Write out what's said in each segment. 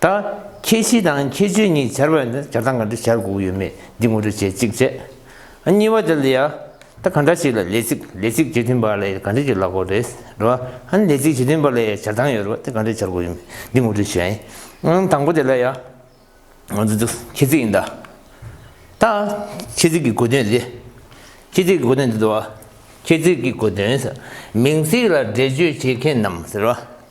ད། ཁྱད་གཞི་དང་ཁྱད་ཆོས་གཉིས་སྦྱར་བས་ན་སྦྱར་སྟངས་ག་འདྲ་སྦྱར་དགོས་ཡོད་མེད་འདི་ངོ་སྤྲོད་བྱེད་ཅིག་བྱས། གཉིས་པ་དེ་ལ་ཡང། ད་གང་འདྲ་ཞིག་ལ་ལས་ཚིག་ལས་ཚིག་རྗེས་མཐུན་པ་ལ་ཡང་ག་འདྲ་ཞིག་ལ་གོ་རེ། རེད་བ། ལས་ཚིག་རྗེས་མཐུན་པ་ལ་ཡང་སྦྱར་སྟངས་ཡོད་རེད་བ་དེ་ག་འདྲ་སྦྱར་དགོས་ཡོད་མེད་འདི་ངོ་སྤྲོད་བྱས། དང་པོ་དེ་ལ་ཡང། ང་ཚོ་འདི་ཁྱད་ཚིག་ཡིན་ད། ད། ཁྱད་ཚིག་གི་དགོས་དོན་འདི། ཁྱད་ཚིག་གི་དགོས་དོན་འདི་ཟེར་བ། ཁྱད་ཚིག་གི་དགོས་དོན། མིང་ཚིག་ལ་འགྲེལ་བརྗོད་བྱེད་མཁན་རྣམས་ཟེར་བ།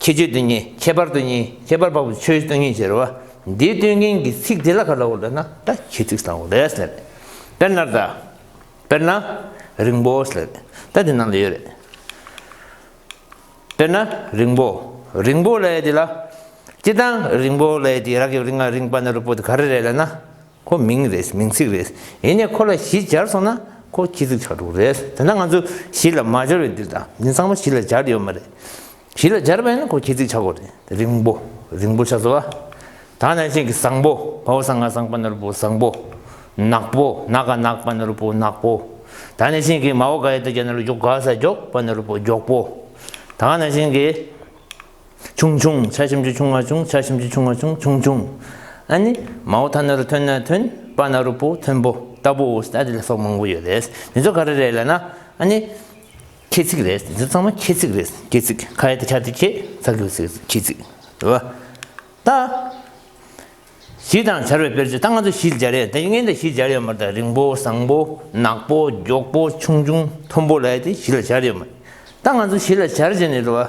ཁྱད་ཆོས་དེ་ཉིད་ཁྱད་པར་དུ་གཉིས་ཁྱད་པར་འཕགས་པའི་ཆོས་སྟོན་མཁན་ཞེས་བ་འདིའི་སྟོན་མཁན་གྱི་ཚིག་དེ་ལ་ག་ལ་འོ་ལ་ན་བཀྲ་ཤིས་ཚིག་བཟང་བོ་རེད་ཟེར། དཔེར་ན། དཔེར་ན། རིང་པོ་ཟེར། ད་དེ་ནང་དུ་ཡོད་རེད། དཔེར་ན། རིང་པོ། རིང་པོ་ལས་དེ་ལ། སྤྱི་དང། རིང་པོ་ལས་དེ་རགས་ཀྱི་རིང་ང་རིང་པ་ན་རུ་པོ་དེ་ག་རེ་རེད་ལ་ན། ཁོ་མིང་རེད་མིང་ཚིག་རེད་ཡིན་ནས་ཁོ་ལ་གཞི་སྦྱར་སོང་ན་ཁོ་ཁྱི་ཚིག་ཁྲག་དྲུག་རེད་དེ་འདྲ་ང་ཚོས་གཞི་ལ་མ་སྦྱར་བའི་དུས་ད་ནི་ཚང་མ་གཞི་ལ་སྦྱར་ཡོད་མ་རེད། གཞི་ལ་སྦྱར་བས་ན་ཁོ་ཁྱི་ཚིག་ཆག་གོ་རེད་རིང་པོ་རིང་པོ་ཆག་ཟོ་བ། ད་ནང་བཞིན་གྱི་བཟང་པོ་བོ་བཟང་ང་བཟང་པ་ནོར་བུ་བཟང་པོ། ནག་པོ་ནག་ག་ནག་པ་ནོར་བུ་ནག་པོ། ད་ནང་བཞིན་གྱི་མ་བོ་ག་ཡེ་ད་གྱ་ནོར་འགྱོགས་ག་ས་འགྱོགས་པ་ནོར་བུ་འགྱོགས་པོ། ད་ནང་བཞིན་གྱི། ཆུང་ཆུང་ཆ་ཞིམ་གྱི་ཆུང་བ་ཆུང་ཆ་ཞིམ་གྱི་ཆུང་བ་ཆུང་ཆུང་ཆུང་ཨ་ནི་མའོ་ཐ་ན་རུ་ཐོན་ན་ཐོན་པ་ན་རུ་པོ་ཐོན་པོ་ལྟ་བུ་ཨོ་སྟ་དེ་ལ་སོགས་མང་བོ་ཡོད་རེད་འདི་ཚོ་ག་རེ་རེད་ལ་ན་ཨ་ནི། ཁྱེད་ཚིག་རེད་འདི་ཚོ་ཚང་མ་ཁྱེད་ཚིག་རེད་ཁྱེད་ཚིག་ཁ་ཡེ་ད་ཆ་དེ་ཁྱེད་ཚ་གི་ཚིག་རེད་ཁྱེད་ཚིག་རེད་བ། ད། བཞི་དང་བྱར་བའི་དཔེར་བརྗོད་ད་ང་ཚོ་བཞི་སྦྱར་ཡ་ད་ངས་ད་བཞི་སྦྱར་ཡོད་མ་རེད་ད་རིང་པོ་བཟང་པོ་ནག་པོ་མགྱོགས་པོ་ཆུང་ཆུང་མཐོན་པོ་ལ་ཡ་དེ་བཞི་ལ་སྦྱར་ཡོད་མ་རེད་ད་ང་ཚོ་བཞི་ལ་སྦྱར་བྱས་ནས་རེད་བ།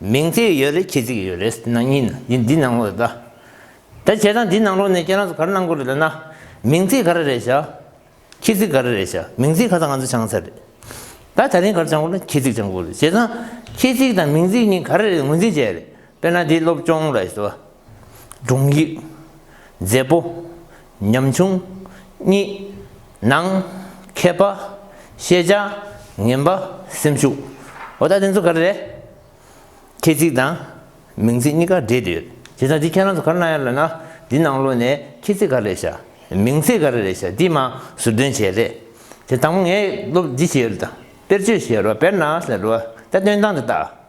མིང་ཚིག་ཡོད་རེད་ཁྱི་ཚིག་ཡོད་རེད་ནང་གཉིས་ནི་འདི་ནང་ལོག་རེད་ད། ད་བྱས་ཙང་འདི་ནང་ལོག་ནས་ཁྱེད་རང་ཚོ་ག་རེ་གནང་དགོས་རེད་ལབ་ན། མིང་ཚིག་ག་རེ་རེད་བྱ། ཁྱི་ཚིག་ག་རེ་རེད་བྱ་མིང་ཚིག་ཁ་ཚ་ང་ཚོ་བྱང་ཚར་རེད། ད་ད་རིང་ག་རེ་བྱང་དགོས་ན་ཁྱི་ཚིག་བྱང་དགོས་རེད་བྱས་ཙང། ཁྱི་ཚིག་དང་མིང་ཚིག་གཉིས་ག་རེ་རེད་ངོས་འཛིན་བྱས་རེད་དཔེར་ན་འདི་སློབ་སྤྱོང་ལ་བྱ། སྒྲུང་ཡིག། མཛེས་པོ། ཉམ་ཆུང། གཉིས། ནང། མཁས་པ། ཤེས་བྱ། ངན་པ། སེམས་ཤུགས། འོ་ད་དེ་ཚོ་ག་རེ་རེད། ཁྱེད་ཅིག་དང། མིང་ཚིག་གཉིས་ཀ་འདྲེས་འདྲེས་ཡོད། དེ་ད་འདི་ཁྱེད་རང་ཚོ་ག་རེ་གནང་ཡ་ལ་ན། འདི་ནང་ལོ་ནས་ཁྱེད་ཚིག་ག་རེ་རེད་བྱ། མིང་ཚིག་ག་རེ་རེད་བྱ་འདི་མ་ཟུར་འདོན་བྱས་རེད། དེ་དང་པོ་ངས་སློབ་འདི་བྱས་ཡོད་ལ་དང། དཔེར་བརྗོད་བྱས་རོགས་དཔེར་ན་ཟེར་རོ། ད་སྟོན་སྟངས་དེ་ལྟ།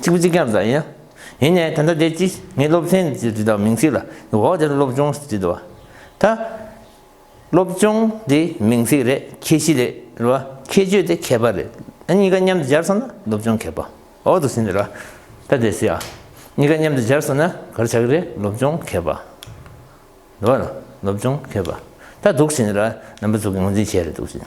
ཚིག་བུ་གཅིག་ཀྱང་བཟའ་ཡིན། ཡིན་ནས་ད་ལྟ་དེ་ཅི་ངས་སློབ་ཚན་ཟེར་བྲིས་དང་མིང་ཚིག་ལ་འོག་དེར་སློབ་སྦྱོང་ཟེར་བྲིས་དང། ད། སློབ་སྦྱོང་དེ་མིང་ཚིག་རེད་ཁྱད་གཞི་རེད་རེད། ཁྱད་ཆོས་དེ་ཁྱད་པར་རེད། ཨ་གཉིས་ཀ་མཉམ་དུ་སྦྱར་སོང་ན་སློབ་སྦྱོང་ཁྱད་པར་འོག་ཏུ་ཟིན་རེད། ད་དེ་སྲིད་ཨ་གཉིས་ཀ་མཉམ་དུ་སྦྱར་སོང་ན་གར་ཆག་རེད་སློབ་སྦྱོང་ཁྱད་པར་འོག་ལ་སློབ་སྦྱོང་ཁྱད་པར་ད་འདུག་ཟིན་རེད་རྣམ་པ་ཚུགས་ཀྱི་ངོས་འཛིན་བྱས་རེད་འདུག་ཟིན།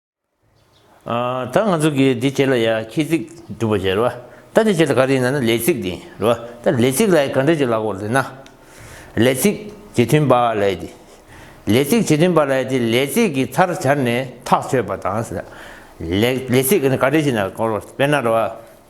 ད་ང་ཚོ་གིས་འདི་བྱས་ལ་ཡ་ཁྱི་ཚིག་སྒྲུབ་པ་བྱས་རེད་བ། ད་འདི་བྱས་ལ་ག་རེ་ཡིན་ན་ན་ལས་ཚིག་འདི་རེད་བ། ད་ལས་ཚིག་ལ་ཡ་ག་འདྲ་བྱས་ལ་གོ་རེ་ན། ལས་ཚིག་ཇི་མཐུན་པ་ལ་ཡ་དེ། ལས་ཚིག་ཇི་མཐུན་པ་ལ་ཡ་དེ་ལས་ཚིག་གི་མཐར་སྦྱར་ནས་ཐག་ཆོད་པ་དང། ལས་ཚིག་ག་འདྲ་བྱས་ན་དཔེར་ན་རེད་བ།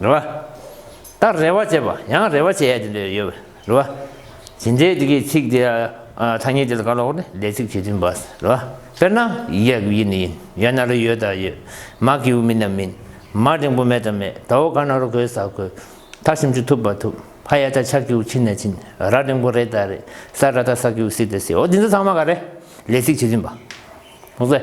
རེ་བ། ལྟར་རེ་བ་བྱེད་པ་ཡང་རེ་བ་བྱེད་ཡ་དེ་འདྲ་ཡོད་པ་རེ་བ། ཇི་འདྲའི་དེ་གའི་ཚིག་དེ་ཐ་སྙད་དེ་ལ་ག་ལོག་ནས་ལས་ཚིག་བྱེད་ཚུལ་འབའ་ཟེར་རེ་བ། དཔེར་ན། ཡ་གུ་ཡིན་ན་ཡིན་ཡ་ན་རོ་ཡོད་དང་ཡོད། མ་གི་ཨུ་མིན་ན་མིན། མ་འབྲིང་པོ་མེད་དང་མེད་ད་འོ་ག་ན་རོ་གོས་ཟ་གོས། ཐ་ཞིམ་ཅུ་ཐུབ་པ་ཐུབ། ཕ་ཡ་ད་ཆ་གི་ཨུ་ཕྱིན་ན་ཕྱིན། ར་འབྲིང་པོ་རེད་ད་རེད། ས་ར་ད་ས་གི་ཨུ་སི་ད་སི་འོ་དེ་ཚོ་ཚང་མ་ག་རེ། ལས་ཚིག་བྱེད་ཚུལ་འབའ།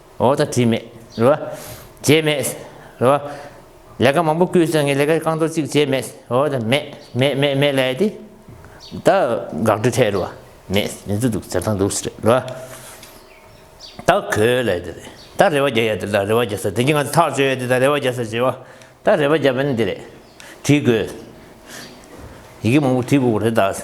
འོ་ད་དྲིས་མེད་རེད་བ། བྱས་མེད་རེད་བ། ལས་ཀ་མང་པོ་བསྐུལ་སོང་ངས་ལས་ཀ་རྐང་ཐོག་གཅིག་བྱས་མེད་འོ་ད་མེད་མེད་མེད་མེད་ལས་དེ། ད་འགག་སྒྲོལ་ཐད་རེད་བ། མེད་མེད་ཚུལ་འདུག་བྱ་ཐང་འདུག་རེད་བ། ད་གོས་ལས་དེ་རེད་ད་རེ་བ་རྒྱག་ཡ་དེ་ད་རེ་བ་རྒྱག་ས་དེ་གྱིས་ང་ཚོ་ཐག་གཅོད་ཡ་དེ་ད་རེ་བ་རྒྱག་ས་བྱས་བ། ད་རེ་བ་རྒྱག་པ་ནི་དེ་རེད་དྲིས་དགོས། ཡི་གེ་མང་པོ་བྲིས་དགོས་པ་རེད་ད།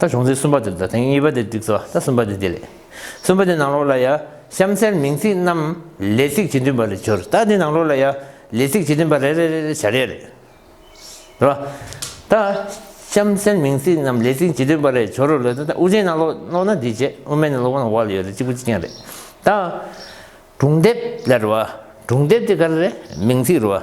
ད་བྱུང་ཚིག་གསུམ་པ་དེ་ལྟར་དེང་གཉིས་པ་དེ་བསྒྲིགས་སོ་ད་གསུམ་པ་དེ་འདི་ལས། གསུམ་པ་དེ་ནང་ལོགས་ལ་ཡ། གཤམ་གསལ་མིང་ཚིག་རྣམས་ལས་ཚིག་ཇི་མཐུན་པ་ལས་སྦྱོར་ད་འདི་ནང་ལོགས་ལ་ཡ། ལས་ཚིག་ཇི་མཐུན་པ་རེ་རེ་རེ་རེ་བྱ་རེ་རེ། རེད་པ། ད། གཤམ་གསལ་མིང་ཚིག་རྣམས་ལས་ཚིག་ཇི་མཐུན་པ་ལས་སྦྱོར་རོ་ལས་ད་དབུ་ཅན་ནང་ལོགས་ན་འདི་བྱེད་དབུ་མེད་ནང་ལོགས་ན་བ་ལ་ཡོད་རེད་གཅིག་པུ་གཅིག་རྐྱང་རེད། ད། སྒྲུང་དེབ་ལ་རེད་བ། སྒྲུང་དེབ་དེ་ག་རེ་རེད་མིང་ཚིག་རེད་བ།